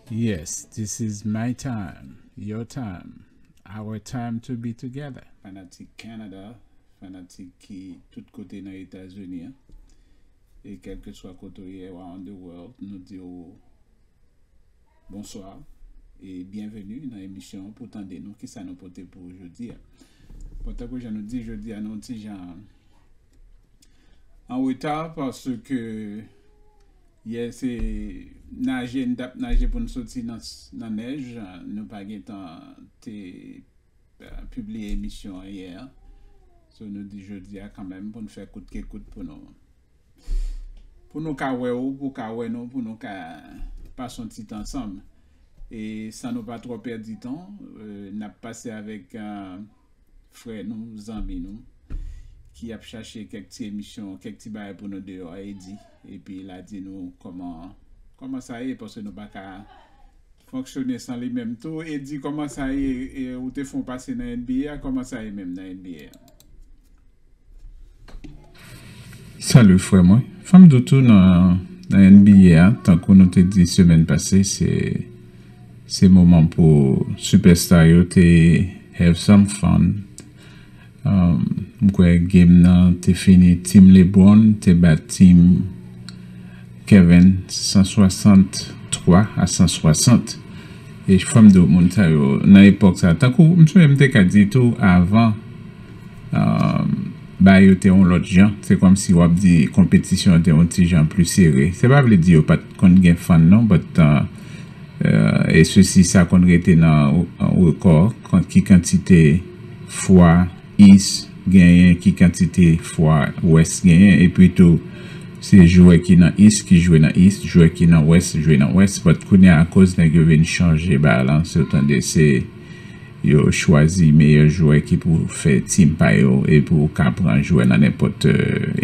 Yes, this is my time, your time, our time to be together. Fanatik Canada, fanatik ki tout kote nan Etazini an. E kelkeswa kote w ye around the world nou di w Bonswa e byenveni nan emisyon an pou tande nou kisa nou pote pou ou jodi a. Bon tankou jan nou di jodi a nou yon ti jan an reta paske yè se naje n tap naje pou n soti nan nèj nou pa gen tan te pibliye emisyon an yè a so nou di jodi a kanmenm pou n fè kout ke kout pou nou pou nou ka wè ou pou w ka wè nou pou nou ka pase yon ti tan ansanm e san nou pa twò pèdi tan n ap pase avèk frè nou zanmi nou ki ap chache kèk ti emisyon kèk ti bagay pou nou deyò a Eddy epi l a di nou kòman sa ye paske nou pa ka Fonksyone san li menm tou. Eddy kòman sa ye ou te fon pase nan NBA a kòman sa ye menm nan NBA a. Salut frè mwen, fòm di w tou nan NBA a tankou nou te di semèn pase se se moman pou sipèsta yo te have some fun. M kwè game nan te fini team Lebron te bat team Kevin 163 a 160 e fòm di w moun sa yo nan epòk sa tankou m sonje m te ka di tou avan bagay yo te yon lòt jan se kòm si wap di konpetisyon te yon ti jan pli sere se pa vle di yo pat konn gen fan non but E sousi sa konn rete nan rekò kont ki kantite fwa Ist genyen, ki kantite fwa West genyen. Epi tou, se jwè ki nan Ist ki jwe nan Ist, jwè ki nan West jwe nan West. But kounye a akoz nèg yo vin chanje ba lan, se w tande se yo chwazi meyè jwè ki pou fè team pa yo e pou w ka pran jwè nan nenpòt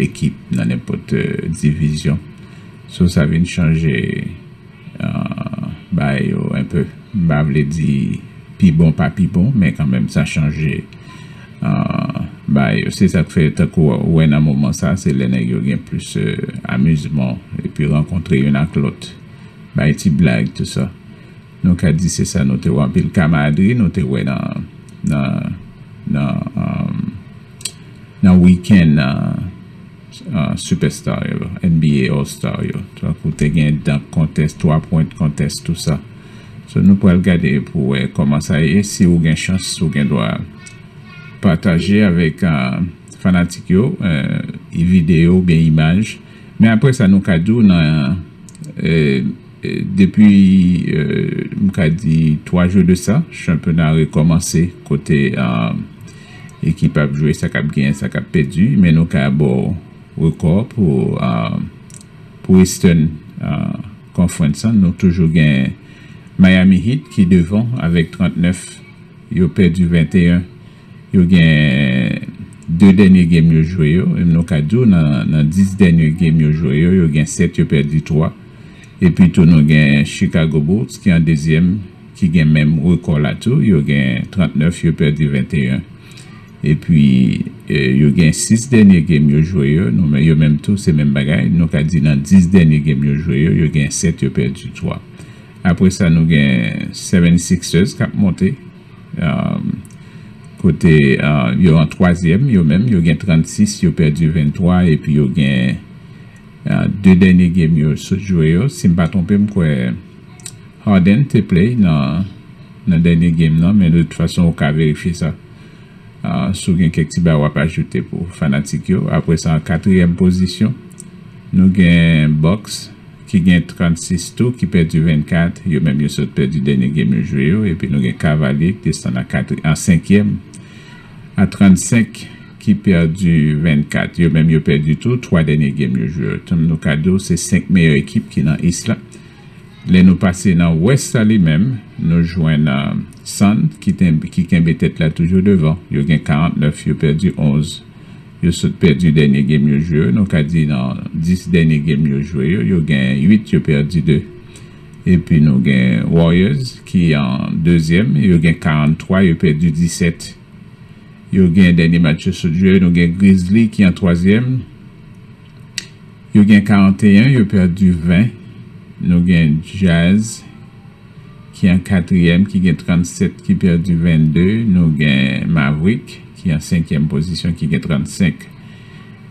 ekip, nan nenpòt divizyon. So sa vin chanje. Bay yo un peu. M pa vle di pi bon pa pi bon men kanmenm sa chanje bay yo. Se sa k fè tankou ou wè nan moman sa se lè nèg yo gen plis amizman epi rankontre youn ak lòt bay ti blag tou sa. Nou ka di se sa nou te wè anpil kamadri nou te wè nan nan nan weekend nan. Sipèsta yo, NBA All Star yo, tankou te gen Dunk Contest, 3 Point Contest, tout sa. So nou pral gade pou wè kòman sa ye, si ou gen chans ou gen dwa pataje avèk fanatik yo videyo oubyen imaj. Men aprè sa nou ka di w nan depi m ka di 3 jou de sa chanpyona rekòmanse kote Ekip ap jwe sa kap genyen sa kap pèdi men nou ka baw rekò pou pou Eastern Conference an nou toujou gen Miami Heat ki devan avèk 39 yo pèdi 21 yo gen 2 dènye game yo jwe yo e nou ka diw nan 10 dènye game yo jwe yo yo gen 7 yo pèdi 3 epi tou nou gen Chicago Bulls ki an dezyèm ki gen menm rekò la tou, yo gen 39, yo pèdi 21. Epi, yo gen 6 dènye game yo jwe yo, yo menm tou se menm bagay. Nou ka di nan 10 dènye game yo jwe yo, yo gen 7, yo pèdi 3. Apre sa, nou gen 76ers k ap monte, kote yo an twazyèm, yo menm, yo gen 36, yo pèdi 23, epi yo gen 2 dènye game yo sot jwe yo, si m pa twonpe m kwè. Harden te play nan dènye game nan men de tout fason ou ka verifye sa si w gen kèk ti bagay wap ajoute pou fanatik yo. Apre sa an katriyèm pozisyon nou gen Bucks ki gen 36 tou ki pèdi 24 yo menm yo sot pèdi dènye game yo jwe yo epi nou gen Cavalier ki desann an senkyèm a 35 ki pèdi 24 yo menm yo pèdi tou 3 dènye game yo jwe yo. Nou ka di w se 5 meyè ekip ki nan East la. Lè nou pase nan wès la li menm, nou jwenn San ki kenbe tèt la toujou devan. Yo gen 49, yo pèdi 11. Yo sot pèdi dènye game yo jwe yo. Nou ka di nan 10 dènye game yo jwe yo, yo gen 8 yo pèdi 2. Epi nou gen Warriors ki an dezyèm, yo gen 43, yo pèdi 17. Yo gen dènye match yo sot jwe yo. Nou gen Grizzly ki an twazyèm. Yo gen 41 yo pèdi 20 nou gen Jazz ki an katriyèm ki gen 37 ki pèdi 22 nou gen Maverick ki an senkyèm pozisyon ki gen 35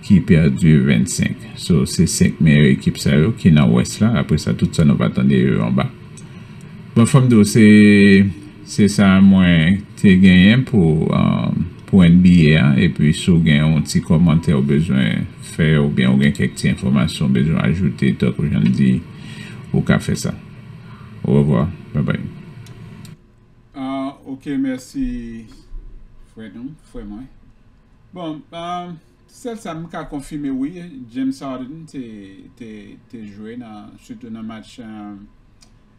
ki pèdi 25 so se 5 meyè ekip sa yo ki nan wès la apresa tout sa nou va tande yo anba bon fòm di w se Se sa mwen te genyen pou pou NBA a epi si w gen yon ti kòmantè ou bezwen fè oubyen ou gen kèk ti enfòmasyon ou bezwen ajoute tankou jan n di ou ka fè sa. Orevwa. Babay. Ah ok mèsi frè nou frè mwen bon sèl sa m ka konfime wi James Harden te te te jwe nan sitou nan match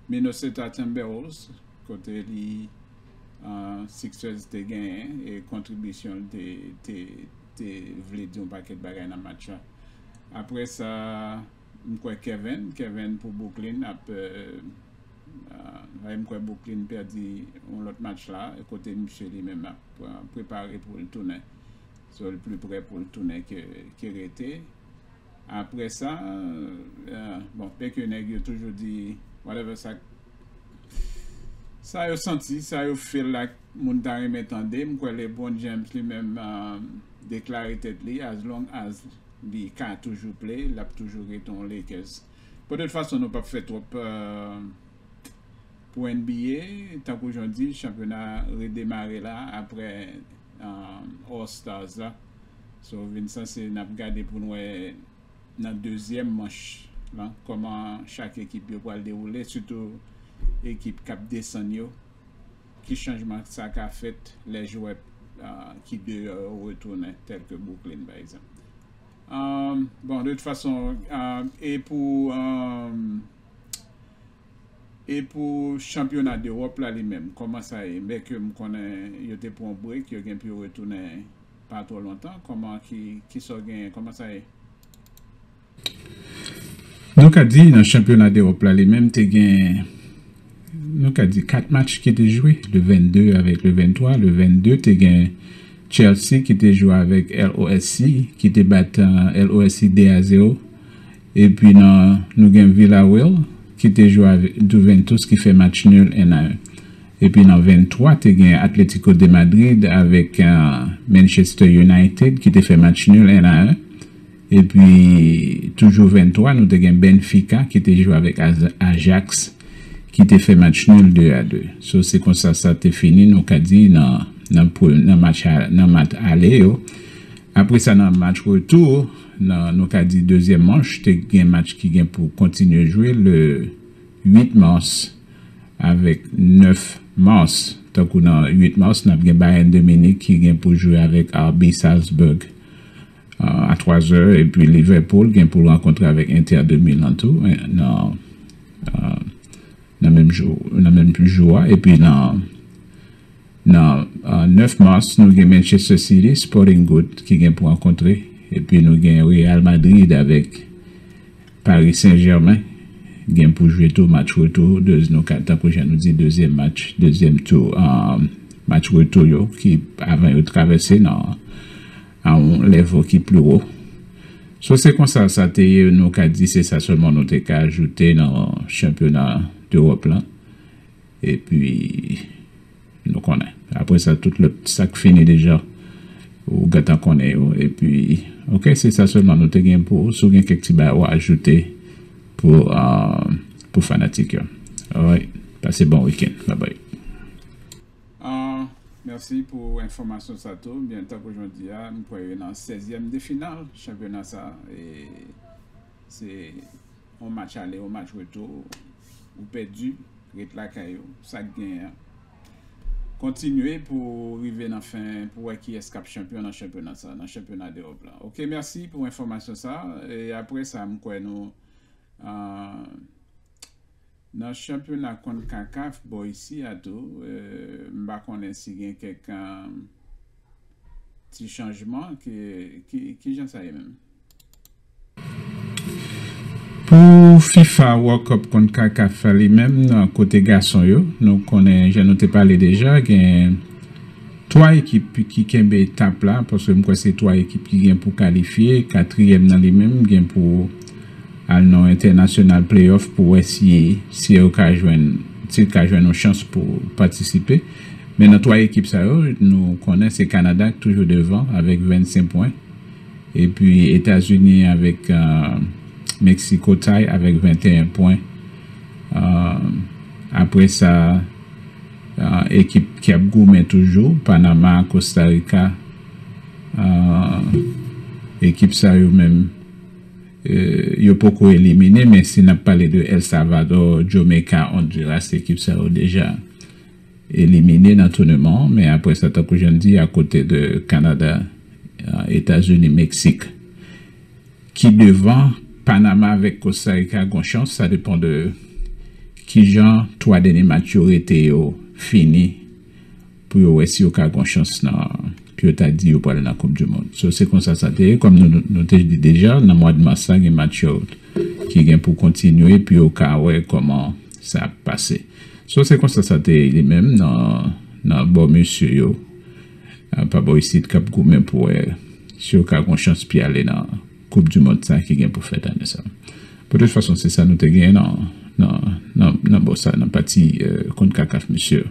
Minnesota Timberwolves kote li Sixers te genyen e kontribisyon l te te vle di yon pakèt bagay nan match la. Aprè sa m kwè Kevin Kevin pou Brooklyn ap m kwè Brooklyn pèdi yon lòt match la kote misye li menm ap prepare pou l tounen so l pi prè pou l tounen ke rete. Aprè sa, bon, dè ke nèg yo toujou di whatever sa k, sa yo santi, sa yo feel like moun ta renmen tande, m kwè Lebron James li menm deklare tèt li as long as li ka toujou play, l ap toujou ret yon Lakers. Bon, de tout fason nou p ap fè twòp pou NBA, tankou jan w di, chanpyona redemare la aprè. All Stars la so vin sanse nap gade poun wè nan dezyèm manch lan kòman chak ekip yo pwal dewoule sitou ekip kap desann yo ki chanjman sa ka fèt lè jwè ki deyò yo retounen tèlke Brooklyn pa egzanp bon de tout fason e pou. E pou chanpyona dEròp la li menm kòman sa ye? Byenke m konnen yo te pran yon break, yo gen pou yo retounen pa twò lontan, kòman ki kisa w genyen, kòman sa ye? Nou ka di nan chanpyona dEròp la li menm te gen nou ka di 4 match ki te jwe, le 22 avèk le 23, le 22 te gen Chelsea ki te jwe avèk LOSC ki te bat LOSC 2 a 0, Epi nan nou gen Villareal ki te jwe avèk Juventus ki fè match nul 1 a 1. Epi nan 23 te gen Atlético de Madrid avèk Manchester United ki te fè match nul 1 a 1. Epi toujou 23 nou te gen Benfica ki te jwe avèk Ajax ki te fè match nul 2 a 2. So se konsa sa te fini nou ka di nan nan match nan match ale yo. Apre sa nan match retou. Nan nou ka di dezyèm manch te gen match ki gen pou kontinye jwe le 8 mars avèk 9 mars. Tankou nan 8 mars nap gen Bayern de Munich ki gen pou jwe avèk RB Salzburg a 3 zè epi Liverpool gen pou rankontre avèk Inter de Milan tou nan menm jou a epi nan Nan 9 mas nou gen Manchester City, Sporting Gout ki gen pou rankontre epi nou gen Real Madrid avèk Paris Saint Germain gen pou jwe tou match retou tankou jan nou di dezyèm match dezyèm tou match retou yo ki avan yo travèse nan yon levo ki pli wo. So se konsa sa te ye nou ka di se sa sèlman nou te ka ajoute nan chanpyona dEròp lan. Epi nou konnen. Apre sa tout lòt sak fini deja ou gentan konnen yo epi ok se sa sèlman nou te gen pou ou si w gen kèk ti bagay ou ajoute pou fanatik yo alright pase bon weekend babay. Merci pou enfomasyon sa tou byen tankou jodi a m kwè yo nan 16 yèm de final chanpyona sa e. Se yon match ale yon match retou ou pèdi ret lakay ou sak genyen an kontinye pou rive nan fen pou wè kiyès kap chanpyon nan chanpyona sa nan chanpyona dewòp la ok mèsi pou enfòmasyon sa e aprè sa mkwè nou. Nan chanpyona Concacaf bò isi a tou, m pa konnen si gen kèk ti chanjman. Ki jan sa ye menm? Pou fifa World Cup Concacaf a li menm nan kote gason yo, nou konnen jan nou te pale deja gen 3 ekip ki kenbe tap la paske m kwè se 3 ekip ki gen pou kalifye, katriyèm nan li menm gen pou Al nan entènasyonal playoff pou wè si siw ka jwenn siw ka jwenn yon chans pou patisipe. Men nan 3 ekip sa yo nou konnen se Kanada k toujou devan avèk 25 pwen epi Etazini avèk Meksiko tay avèk 21 pwen apre sa ekip ki ap goumen toujou Panama, Kostarika ekip sa yo menm. Yo poko elimine men si nap pale de El Salvador, Jamaica, Honduras ekip sa yo deja elimine nan touneman an men apre sa tankou jan di a kote de Canada, Etazini, Mexique ki devan Panama avek Costa Rica gon chans sa depan de kijan 3 denye match yo rete yo fini pou yo wè si yo ka gon chans nan pou yo ta di yo pral nan koup du mond so se konsa sa te ye kòm nou nou te di deja nan mwad mas la gen match yo ki gen pou kontinye pou yo ka wè kòman sa ap pase so se konsa sa te ye li menm nan nan bò mesye yo pa bò isit kap goumen pou wè si yo ka gon chans pi ale nan koup du mond sa ki gen pou fèt ane sa bon tout fason se sa nou te gen nan nan nan bò sa nan pati konkakaf mesye yo.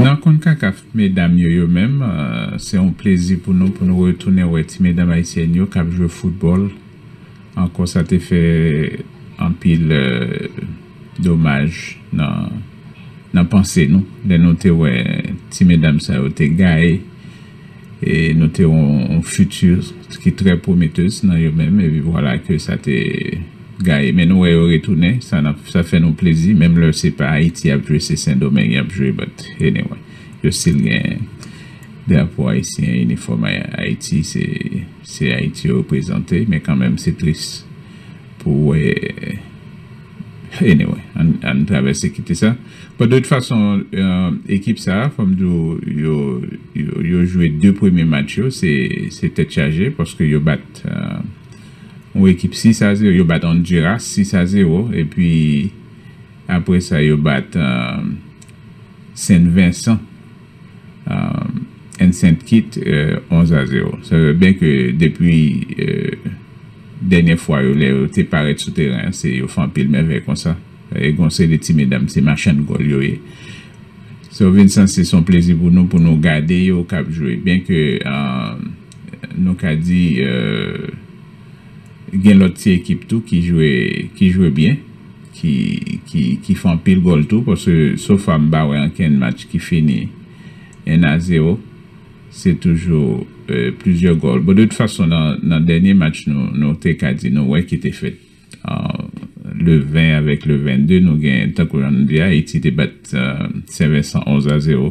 Nan Concacaf medam yo yo menm, se yon plezi pou nou pou nou retounen wè ti medam ayisyèn yo k ap jwe foutbòl ankò sa te fè anpil domaj nan panse nou lè nou te wè ti medam sa yo te gaye e nou te yon future ki trè prometteuse nan yo menm epi vwala ke sa te gaye men nou wè yo retounen sa fè nou plezi menm lè se pa Ayiti yap jwe se Sendomeng yap jwe but anyway yo still gen drapo Ayisyen inifòm Ayiti se Ayiti yo reprezante men kanmenm se tris pou wè. Anyway, ann travèse kite sa. Bon, de tout fason, ekip sa a, fò m di w, yo jwe 2 premye match yo, se tèt chaje, paske yo bat yon ekip 6 a 0, yo bat Honduras 6 a 0, epi apre sa yo bat Saint Vincent. N. Saint Kit 11 a 0. Sa vle byen ke depi dènyè fwa yo lè yo te parèt sou teren an se yo fè anpil mèvèy konsa. E gen yon seri ti medam se machann gòl yo ye. Sa vin san se son plezi pou nou pou nou gade yo k ap jwe. Byen ke nou ka di gen lòt ti ekip tou ki jwe byen. ki fè anpil gòl tou paske so far m pa wè ankenn match ki fini 1 a 0 se toujou plizyè gòl bon de tout fason nan dènye match nou nou te ka di nou wè ki te fèt le 20 avèk le 22 nou gen tankou jan nou di Ayiti te bat Sen Vensan 11 a 0.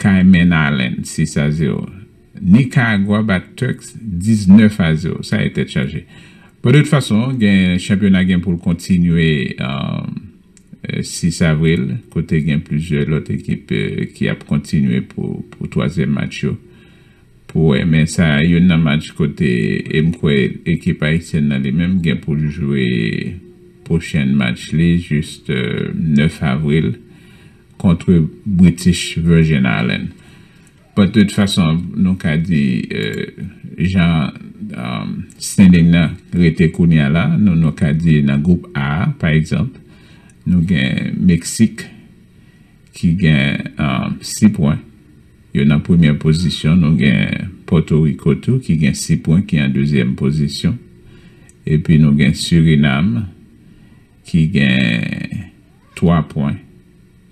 Cayman Island 6 a 0. Nikaragwa bat Turks 19 a 0. Sa ye tèt chaje. Bon de tout fason gen chanpyona gen pou l kontinye 6 avril kote gen plizyè lòt ekip ki ap kontinye pou twazyèm match yo pou wè men sa youn nan match kote e m kwè ekip ayisyèn nan li menm gen pou l jwe pwochenn match li jis 9 avril Kontre British Virgin Island. But de tout fason nou ka di jan standing nan rete kounye a la, nou nou ka di nan gwoup A a pa egzanp, nou gen Meksik ki gen 6 pwen, yo nan premyè pozisyon, nou gen Pòto Riko tou ki gen 6 pwen ki an dezyèm pozisyon, epi nou gen Surinam ki gen. 3 pwen.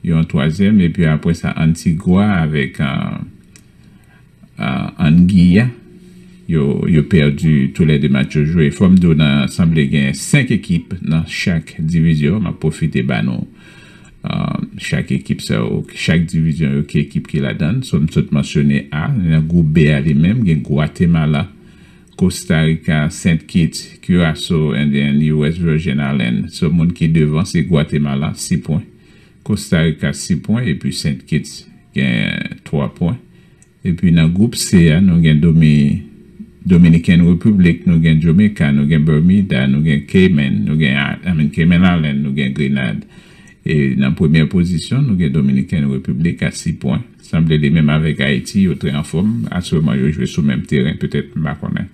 Yon twazyèm epi apre sa Antigua avèk Anguilla yo pèdi tou lè 2 match yo jwe. Fò m di w nan sanble gen 5 ekip nan chak divizyon. M ap pwofite ba nou chak ekip sa yo, chak divizyon yo ki ekip ki ladan. So m sot mansyone A, nan gwoup B a li menm gen Gwatemala, Kosta Rika, Sent Kit, Kiraso, Endyen, New West Virgin Alen. So moun ki devan se Gwatemala, 6 pwen. Kosta Rika 6 pwen epi Sent Kit gen 3 pwen. Epi nan gwoup C a nou gen Domi, Dominiken Repiblik, nou gen Jamaica, nou gen Bermuda, nou gen Cayman, nou gen, I mean Cayman Alen, nou gen Grenad. E nan premyè pozisyon nou gen Dominikèn Repiblik a 6 pwen. Sanble li menm avèk Ayiti yo trè anfòm atyèlman yo jwe sou menm teren petèt m pa konnen.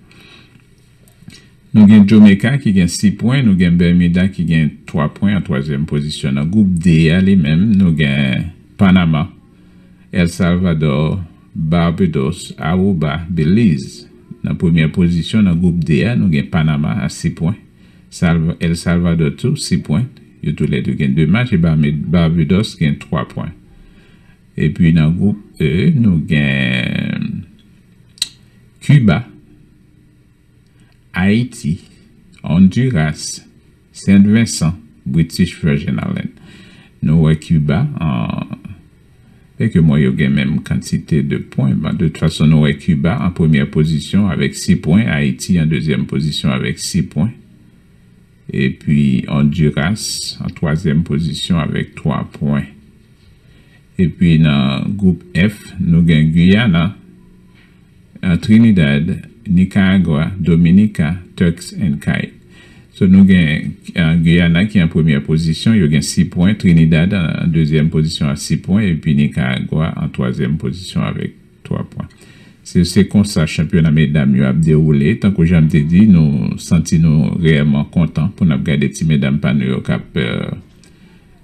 Nou gen Jamaica ki gen 6 pwen, nou gen Bermuda ki gen 3 pwen an twazyèm pozisyon. Nan gwoup D a li menm nou gen Panama, El Salvador, Barbados, Aruba, Belize. Nan premyè pozisyon nan gwoup D a nou gen Panama a 6 pwen. El Salvadò tou 6 pwen, yo tou lè 2 gen 2 match e Barbados gen 3 pwen. Epi nan gwoup E nou gen Kiba, Ayiti, Ondiras, Sent Vensan, British Virgin Island. Nou wè Kiba an. e ke mwen yo gen menm kantite de pwen, bon de tout fason nou wè Kiba an premyè pozisyon avèk 6 pwen, Ayiti an dezyèm pozisyon avèk 6 pwen, epi Ondiras an twazyèm pozisyon avèk 3 pwen. Epi nan gwoup F nou gen Guyana Trinidad, Nicaragua, Dominica, Turks and Cait. So nou gen Guyana ki an premyè pozisyon, yo gen 6 pwen, Trinidad an dezyèm pozisyon a 6 pwen epi Nicaragua an twazyèm pozisyon avèk 3 pwen. Se se konsa chanpyona medam yo ap dewoule. Tankou jan m te di, nou santi nou reyèlman kontan pou n ap gade ti medam pa nou yo k ap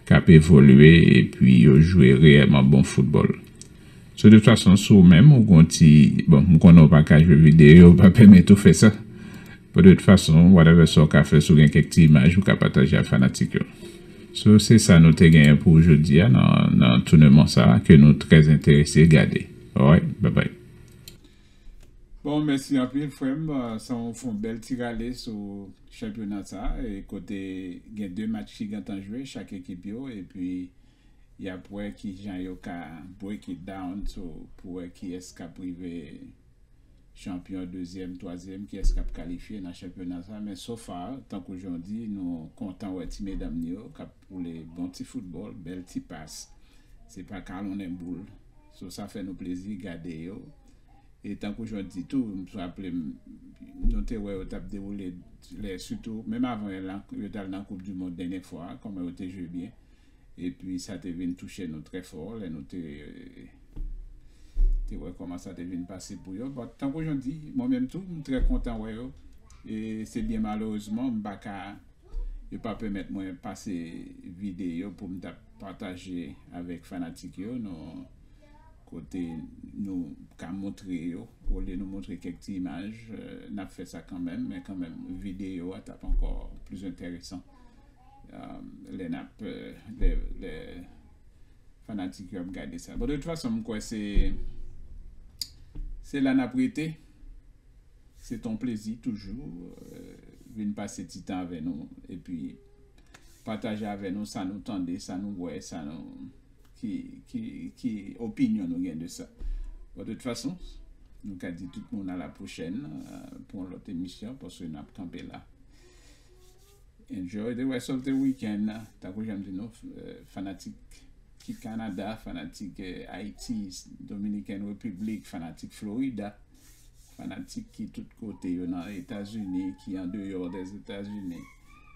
k ap evolye epi yo jwe reyèlman bon foutbòl. Sou tout fason si ou menm ou gen yon ti, bon m konnen ou pa ka jwe video yo pa pèmèt ou fè sa. Pou tout fason whatever sa ou ka fè si ou gen kèk ti imaj ou ka pataje ak fanatik yo. So se sa nou te genyen pou jodi a nan nan touneman sa ke nou trè enterese gade. Alright bye bye. Bon mèsi anpil frèm sa ou fon bèl ti rale sou chanpyona sa e kote gen 2 match ki gentan jwe chak ekip yo epi Yap wè kijan yo ka break it down to pou wè kiyès kap rive chanpyon dezyèm twazyèm kiyès kap kalifye nan chanpyona sa men so far tankou jan w di nou kontan wè ti medam nou yo kap woule bon ti foutbòl bèl ti pas se pa kalonnen boul so sa fè nou plezi gade yo e tankou jan w di tou m raple m nou te wè yo tap dewoule lè sitou menm avan yo t al nan koup dimond dènye fwa kòman yo te jwe byen. Epi sa te vin touche nou trè fò lè nou te te wè kòman sa te vin pase pou yo. But, tankou jan w di, mwen menm tou, m trè kontan wè yo. E se byen malerezman m pa ka, yo pa pèmèt mwen pase videyo pou m ta pataje avèk fanatik yo nou kote nou ka montre yo. Olye nou montre kèk ti imaj, n ap fè sa kanmenm, men kanmenm videyo a t ap ankò plis enteresan. Lè nap Lè Fanatik yo ap gade sa Bon de tout fason m kwè se Se la nap rete Se ton plezi toujou Vin pase ti tan avè nou Epi Pataje avè nou sa nou tande Sa nou wè Sa nou Ki Ki Ki Opinyon nou gen de sa Bon de tout fason Nou ka di tout moun a la pwochèn Pou yon lòt emisyon Paske nap kanpe la. Enjoy the rest of the weekend tankou janm di nou fanatik ki Canada fanatik Haiti Dominican Republic fanatik Florida fanatik ki tout kote yo nan Etats Unis ki an deyo des Etats Unis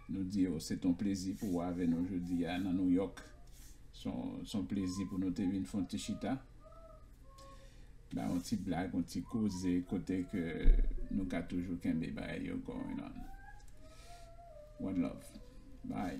nou di yo se ton plezi pou ou ave nou jodi a nan New York son plezi pou nou te vin fon ti chita Ba yon ti blag, yon ti koze kote ke nou ka toujou kenbe bagay yo going on. One love. Bye.